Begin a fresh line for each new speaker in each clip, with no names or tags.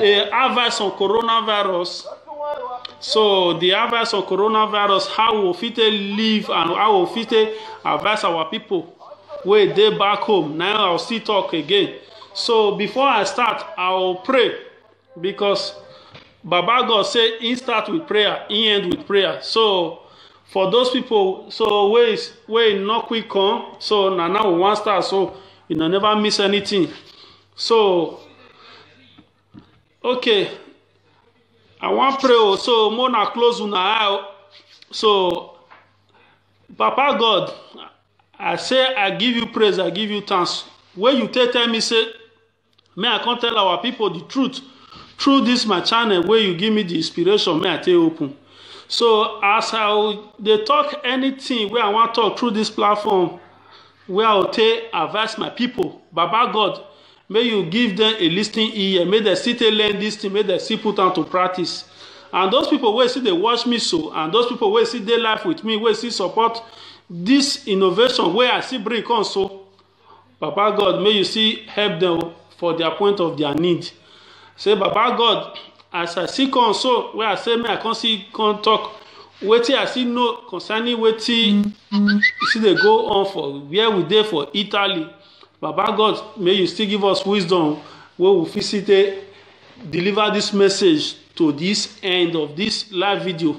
the advice on coronavirus so the advice on coronavirus how we fit take live and how we fit take advise our people wey dey back home na i go still talk again so before i start i go pray because baba god say he start with prayer he end with prayer so for those people so wey wey no quick come so na now we wan start so una never miss anything So, okay, I wan pray o, so make una close una eye o. So, Papa God, I say I give you praise, I give you thanks. When you take tell me say, may I come tell our people the truth through this my channel where you give me the inspiration, may I take open. So as I dey talk anything wey I wan talk through this platform, Wey I go take advise my people, Baba God, make you give them a listening ear, make dem still take learn this thing, make dem still put am to practice. And those people wey still dey watch me so, and those people wey still dey life with me, wey still support this innovation wey I still bring come so, Baba God, make you still help them for their point of their need. say baba god as i see come so wey i say make i come see come talk wetin i still know concerning wetin still dey go on for where we dey for italy baba god may you still give us wisdom wey we fit still take deliver this message to this end of this live video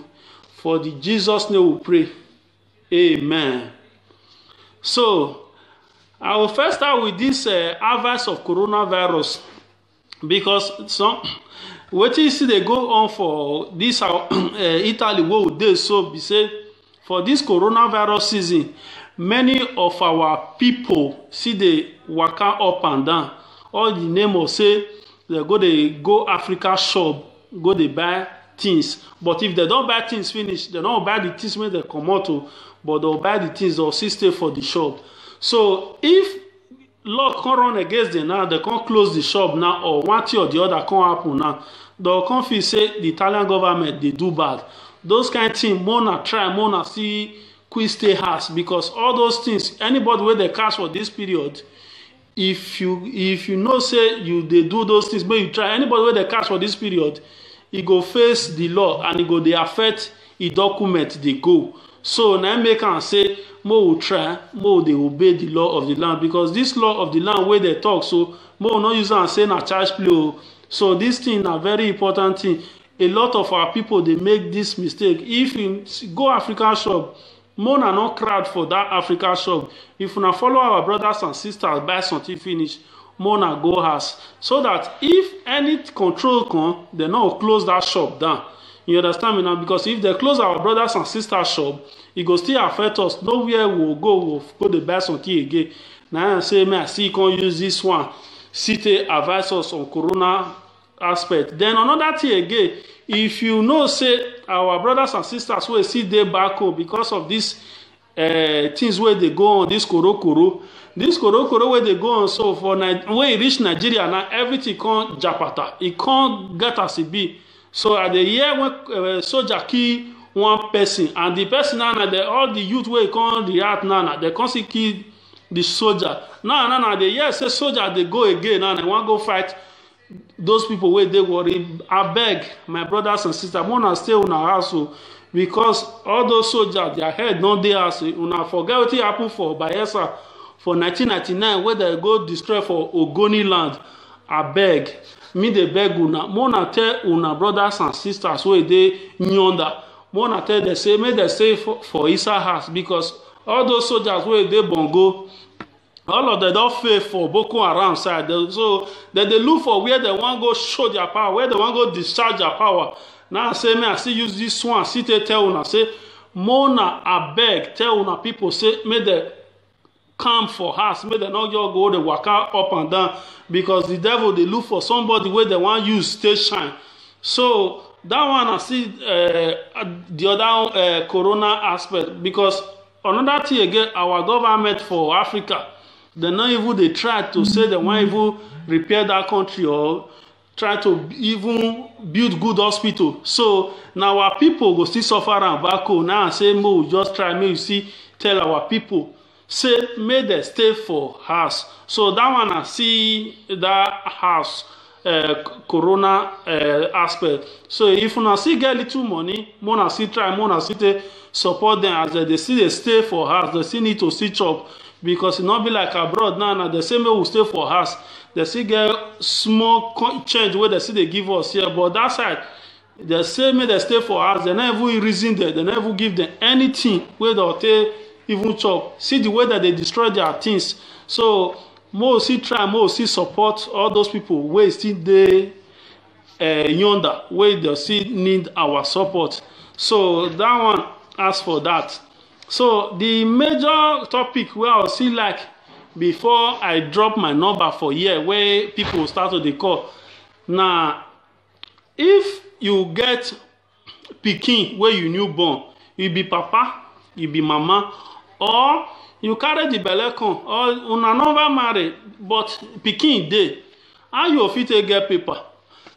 for the jesus name we pray Amen. So, I will first start with this uh, advice of coronavirus because some what you see they go on for this uh, uh Italy what they so be say for this coronavirus season many of our people see they waka up and down all the name of say they go they go Africa shop go dey buy things but if dem don buy things finish dem don buy the things wey dem comot o but dem buy the things dem still stay for the shop so if luck come run against them now dem come close the shop now or one thing or the other come happen now dem come feel say the Italian government dey do bad those kind thing mona try mona see quick stay house because all those things anybody wey dey catch for this period if you if you know say you dey do those things make you try anybody wey dey catch for this period e go face the law and e go dey affect e document dey go so na im make am say make we try make we dey obey the law of the land because this law of the land wey dey talk so make we no use am say na child's play o so this thing na very important thing a lot of our people dey make this mistake if you go african shop Make una no crowd for that Africa shop. If una follow our brothers and sisters buy something finish, make una go house. So that if any control come, they no close that shop down. You understand me now? Because if they close our brothers and sisters shop, it go still affect us. Nowhere we will go, we will go to buy something again. Now I say, me I see you can use this one. City advise us on corona aspect then another thing again if you know say our brothers and sisters wey still dey back home because of this uh, things wey dey go on this korokoro this korokoro wey dey go on so for when e reach nigeria na everything come japata e come get as e be so i dey hear when uh, soldier kill one person and the person now na the all the youth wey come react now na they come still kill the soldier now now na dey hear say soldier dey go again now na wan go fight those people wey dey worry abeg my brothers and sisters make una stay una house o because all those soldiers their head no dey house una forget wetin happen for bayelsa for 1999 wey dem go destroy for ogoni land abeg me dey beg una make una tell una brothers and sisters wey dey yonder make una tell dem say make dem stay for, for inside house because all those soldiers wey dey bongo all of them don fail for boko haram side so dem dey look for where dem wan go show their power where dem wan go discharge their power now say me i still use this one still take tell una say mona abeg tell una people say make dem calm for house make dem no just go dey waka up and down because the devil dey look for somebody wey dem wan use take shine so that one na still uh, the other uh, corona aspect because another thing again our government for africa dem no even dey try to say dem wan even repair that country or try to even build good hospital so na our people go still suffer am back home now say make we just try make we see tell our people say make dem stay for house so that one na see that house uh, corona uh, aspect so if una still get little money more na still try more na still take support them as they dey still dey stay for house they still need to still chop because e no be like abroad now na the same way we stay for house they still get small co- change wey they still dey give us here but that side dem say make dem stay for house dem no even reason dem dem no even give dem anything wey dem take even chop see the way dem dey destroy their things so mo we still try mo we still support all those people wey still dey uh, yonder wey dem still need our support so that one as for that so the major topic wey i still like before i drop my number for here wey people start to dey call na If you get pikin wey you new born, you be papa, you be mama or you carry the belle come or una never marry but pikin dey, how you go fit take get paper?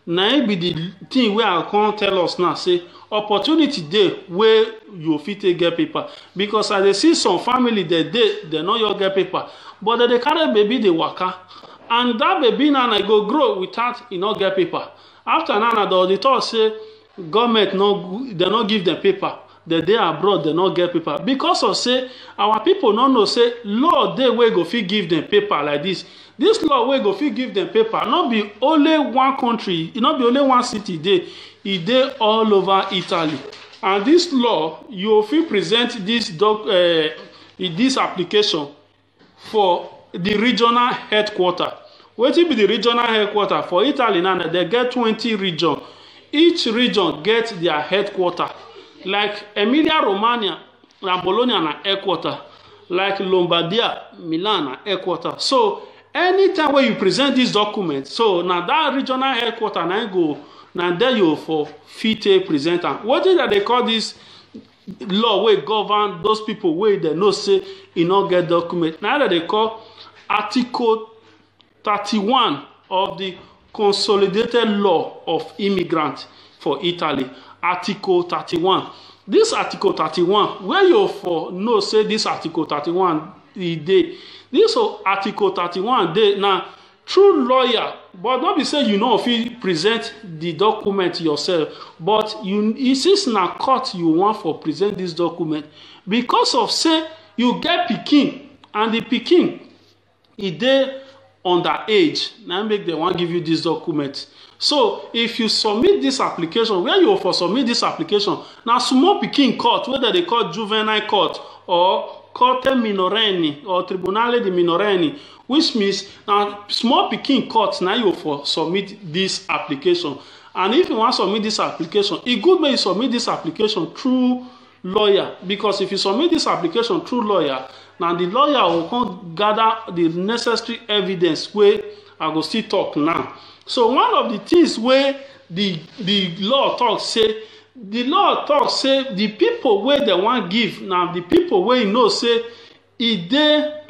Na im be the thing wey I come tell us now say opportunity dey wey you go fit take get paper because I dey see some family dem dey, dem no just get paper but dem dey carry baby dey waka and dat baby now e go grow without e no get paper after now na the talk say government no dem no give dem paper dem dey abroad dem no get paper because of say our people no know say law dey wey go fit give dem paper like this this law wey go fit give dem paper no be only one country e no be only one city dey e dey all over italy and this law you fit present this doc uh, this application for di regional headquarter wetin be di regional headquarter for italy now dem get twenty region each region get their headquarter like emilia romagna na bologna na headquarter like lombardia milan na headquarter so anytime wey you present dis document so na dat regional headquarter na go na there you for fit take present am wetin dem dey call dis law wey govern those people wey dem know say e no get document na dem dey call article thirty-one of the consolidated law of immigrant for italy article thirty-one this article thirty-one wey you for know say this article thirty-one e dey this article thirty-one dey na through lawyer but no be say you no fit present the document yourself but you e since na court you wan for present this document because of say you get pikin and the pikin e dey under age na make dem wan give you this document so if you submit this application where you for submit this application na small pikin court wey dem dey call juvenile court or corte minorenne or tribunale di minorenne which means na small pikin court na you for submit this application and if you wan submit this application e good make you submit this application through lawyer because if you submit this application through lawyer na the lawyer go come gather the necessary evidence wey i go still talk now so one of the things wey the the law talk say the law talk say the people wey dem wan give na the people wey you know say e dey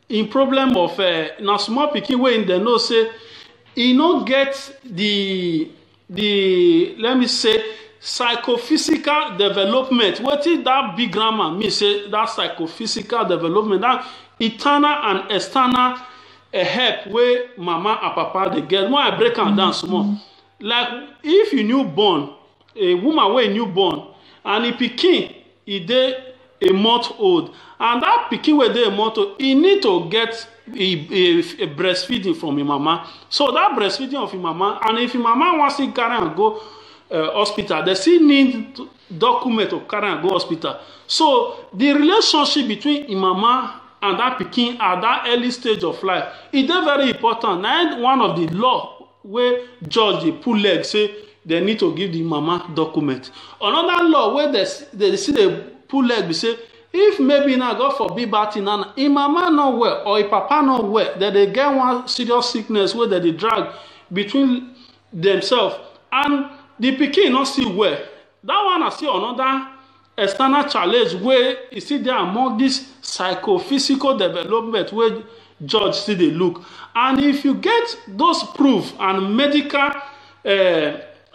im problem of uh, na small pikin wey im dey know say e no get the the let me say psychophysical development wetin that big grammar mean say that psychophysical development that internal and external uh, help wey mama and papa dey get when i break am down small like if you new born a woman wey new born and e pikin e dey a month old and that pikin wey dey a month old e need to get a, a, a breastfeeding from im mama so that breastfeeding of im mama and if im mama wan still carry am go uh, hospital they still need document to carry am go hospital so the relationship between im mama and that pikin at that early stage of life e dey very important na one of the law wey judge dey pull leg say dem need to give the mama document another law wey dem still dey pull leg be say if maybe na god forbid bad thing na im mama no well or im papa no well dem dey get one serious sickness wey dem dey drag between themselves and the pikin no still well that one na still another external challenge wey e still dey among this psychophysical development wey judge still dey look and if you get those proof and medical uh,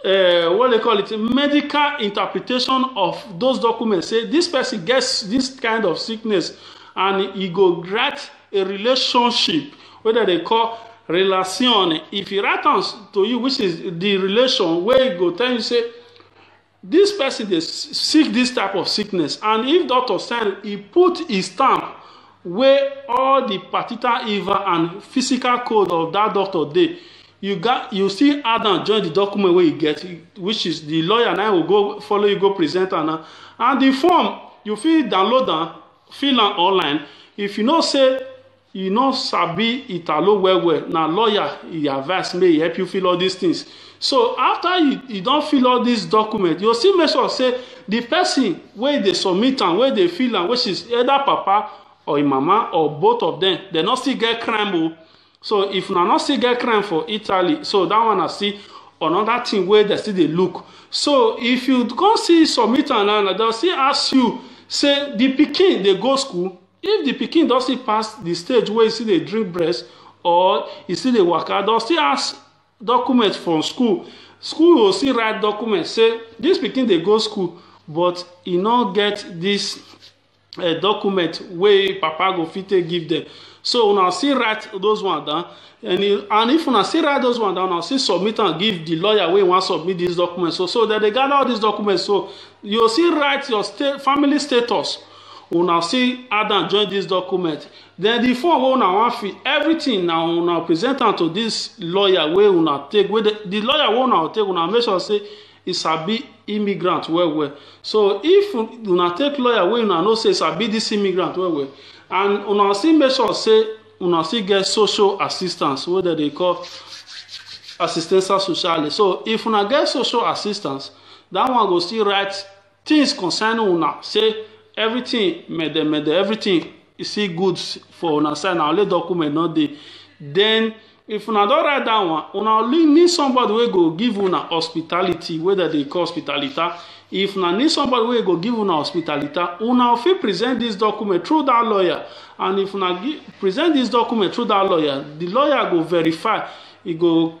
uh, what they call it medical interpretation of those documents say this person gets this kind of sickness and he go write a relationship wey dem dey call relation if he write am to you which is the relation wey go tell you say This person dey sick this type of sickness and if doctor sign, he put his stamp wey all the particular evil and physical code of that doctor dey you got you still add am join the document wey you get which is the lawyer now will go follow you go present am now and the form you fit download am fill am online if you know say e no sabi italo well well na lawyer e advice make e help you fill all these things so after you you don fill all these documents you still make sure say the person wey dey submit am wey dey fill am which is either papa or im mama or both of them they no still get crime o so if una no still get crime for italy so that one na still another thing wey dem still dey look so if you come see submit am now dem still ask you say the pikin dey go school If the pikin don still pass the stage where he still dey drink breast or he still dey waka, don still ask document from school. School will still write document say this pikin dey go school but he no get this uh, document wey papa go fit take give them so una still write those one down and, he, and if una still write those one down una still submit am give the lawyer wey wan submit this document so so dem dey gather all these documents so you still write your state family status una still add am join this document then the form wey una wan fill everything na una present am to this lawyer wey una take wey the, the lawyer wey una take una make sure say e sabi immigrant well well so if una take lawyer wey una know say e sabi this immigrant well well and una still make sure say una still get social assistance wey dem dey call assistance sociale so if una get social assistance that one go still write Things concern una say everything mede mede everything you see good for una side na only document no dey then if una don write that one una only need somebody wey go give una hospitality wey dem dey call hospitalita if una need somebody wey go give una hospitalita una fit present this document through that lawyer and if una give, present this document through that lawyer the lawyer go verify e go